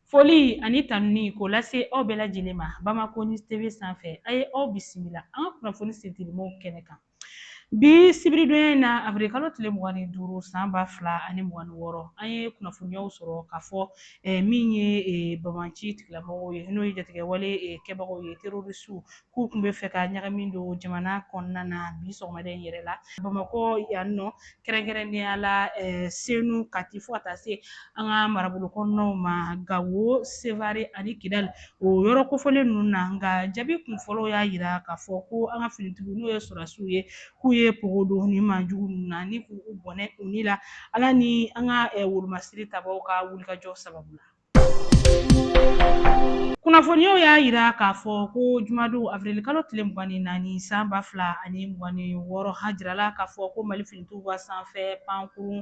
Foli ani tanuni k'o lase aw bɛɛ lajɛlen ma Bamako News TV sanfɛ a ye aw bisimila an ka kunnafoni sentelimaw kɛnɛ kan bi sibiridonya in na avril kalo tile mugan ni duuru san ba fila ani mugan ni wɔɔrɔ an ye kunnafoniyaw sɔrɔ k'a fɔ eh, min ye eh, banbaanci tigilamɔgɔw ye n'o ye jatigɛwale eh, kɛbagaw ye terorisiw k'u tun bɛ fɛ ka ɲagami don jamana kɔnɔna na bi sɔgɔmada in yɛrɛ la bamakɔ yan nɔ kɛrɛnkɛrɛnnenya la eh, senu kati fo ka taa se an ka marabolo kɔnɔnaw ma gawo sevare ani kidali o yɔrɔ kofɔlen ninnu na nka jaabi kunfɔlɔ y'a yira k'a fɔ ko an ka finitigiw n'o ye sɔrasiw ye k'u ye pogo don nin maajugu ninnu na ni k'u bɔnɛ u ni la ala ni an ka eh, wolomasiri tabaw ka wulikajɔ sababu la Kunnafoniyaw y'a jira k'a fɔ ko jumadon avril kalo tile mugan ni naani san ba fila ani mugan ni wɔɔrɔ a jirala k'a fɔ ko Mali finitigiw ka sanfɛ pankurun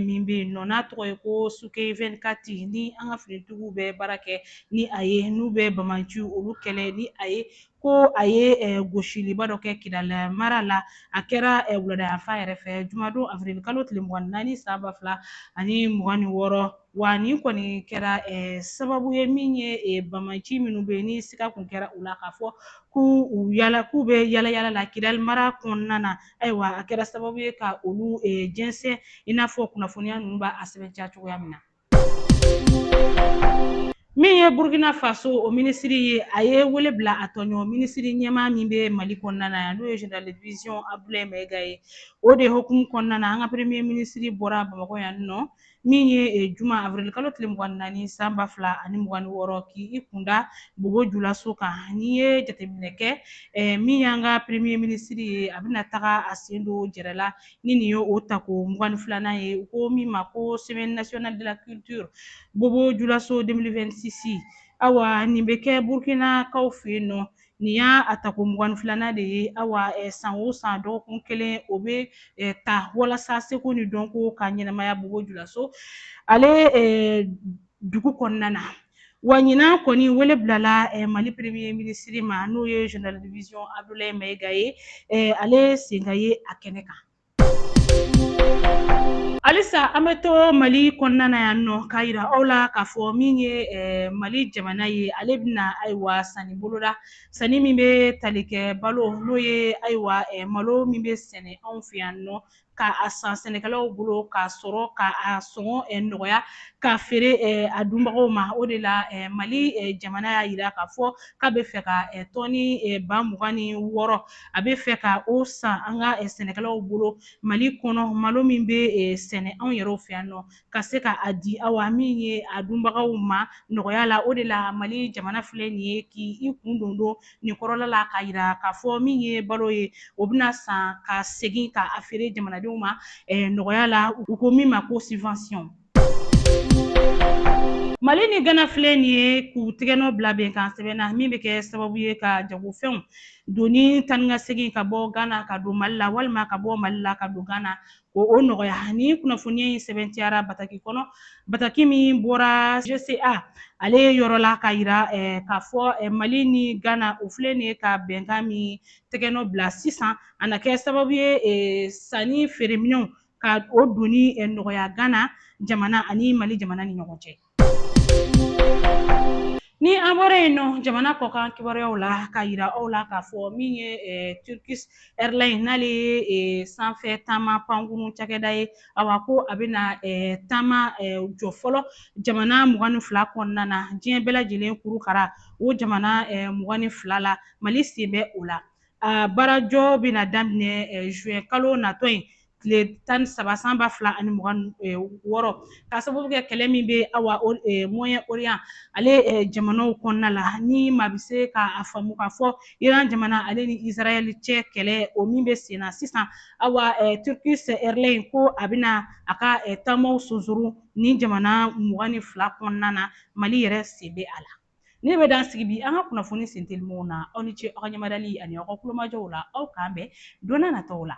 min bɛ yen nɔ n'a tɔgɔ ye ko sukhoi 24 ni an ka finitigiw bɛ baara kɛ ni a ye n'u bɛ banbaanciw olu kɛlɛ ni a ye ko a ye eh, gosiliba dɔ kɛ kidali mara la a kɛra eh, wuladayanfan yɛrɛ fɛ jumadon avril kalo tile mugan naani san ba fila ani mugan ni wɔɔrɔ wa nin kɔni kɛra eh, sababu ye min ye banbaanci minnu bɛ yen ni siga kun kɛra u la k'a fɔ k'u yala k'u bɛ yala yala la kidali mara kɔnɔna na ayiwa a kɛra sababu ye ka olu jɛnsɛn i n'a fɔ kunnafoniya ninnu b'a sɛbɛntiya cogoya min na min ye burkina faso o minisiri ye a ye wele bila a tɔɲɔgɔn minisiri ɲɛmaa min bɛ mali kɔnɔna na yan n'o ye general division abdulayi mayiga ye o de hukumu kɔnɔna na an ka premier minisiri bɔra bamakɔ yan nɔ min ye eh, juma avril kalo tile mugan naani san ba fila ani mugan ni wɔɔrɔ k'i kunda bobo julaso kan n'i ye jateminɛ kɛ eh, min y'an ka premier minisiri ye a bɛna taga a sen don jɛrɛ la ni nin ye o tako mugan ni filanan ye u ko min ma ko semaine nationale de la culture bobo julaso 2026 awa nin bɛ kɛ burkinakaw fɛ yen nɔ nin y'a tako mugan ni filanan de ye awa eh, san o san dɔgɔkun kelen o bɛ eh, ta walasa seko ni dɔnko ka ɲɛnamaya bobo julaso ale eh, dugu kɔnɔna na wa ɲinan kɔni wele bilala eh, mali premier minisiri ma n'o ye general division abdoulaye mayiga ye eh, ale sen ka ye a kɛnɛ kan halisa an bɛ to mali kɔnɔna na yan nɔ k'a yira aw la k'a fɔ min ye eh, mali jamana ye ale bɛna ayiwa sanni boloda sanni min bɛ tali kɛ balo n'o ye ayiwa eh, malo min bɛ sɛnɛ anw fɛ yan nɔ ka a san sɛnɛkɛlaw bolo k'a sɔrɔ ka a sɔngɔ eh, nɔgɔya k'a feere eh, a dunbagaw ma o de la eh, mali jamana y'a yira k'a fɔ k'a bɛ fɛ ka tɔni ba mugan ni wɔɔrɔ a bɛ fɛ ka o san an ka sɛnɛkɛlaw bolo mali kɔnɔ malo min bɛ sɛnɛ anw yɛrɛw fɛ yan nɔ ka se ka a di awa min ye a dunbagaw ma nɔgɔya la o de la mali jamana filɛ nin ye k'i kun don doni in kɔrɔla la k'a yira k'a fɔ min ye balo ye o bɛna san ka segin ka a feere jamanadenw ma eh, nɔgɔya la u ko min ma ko subvention mali ni gana filɛ nin ye k'u tɛgɛnɔ bila bɛnkan sɛbɛn na min bɛ kɛ sababu ye ka jagofɛnw doni taanikasegin ka bɔ gana ka don mali la walima ka bɔ mali la ka don gana o o nɔgɔya nin kunnafoniya in sɛmɛntiyara bataki kɔnɔ bataki min bɔra gca ale ye yɔrɔ la k'a yira eh, k'a fɔ eh, mali ni ghana o filɛ nin ye ka bɛnkan min tɛgɛnɔ bila sisan a na kɛ sababu ye eh, sannifeere minɛnw ka o doni eh, nɔgɔya ghana jamana ani mali jamana ni ɲɔgɔn cɛ Ni an bɔra yen nɔ jamana kɔkan kibaruyaw la ka a yira aw la k'a fɔ min ye Turkish Airlines n'ale ye sanfɛ taama pankurun cakɛda ye awa ko a bɛna taama jɔ fɔlɔ jamana mugan ni fila kɔnɔna na diɲɛ bɛɛ lajɛlen kurukara o jamana mugan ni fila la Mali sen bɛ o la. A baarajɔ bɛna daminɛ juin kalo natɔ in tile tan ni saba san ba fila ani mugan ni wɔɔrɔ k'a sababu kɛ kɛlɛ min bɛ awa moyen orient ale jamanaw kɔnɔna la ni maa bɛ se ka a faamu k'a fɔ iran jamana ale ni israel cɛ kɛlɛ o min bɛ senna sisan awa turkish airline ko a bɛna a ka taamaw sunsurun nin jamana mugan ni fila kɔnɔna na mali yɛrɛ sen bɛ a la Nin bɛ dan sigi bi an ka kunnafoni sentelimaw na aw ni ce aw ka ɲɛmadali ani aw ka kulomajɔw la aw k'an bɛn don nataw la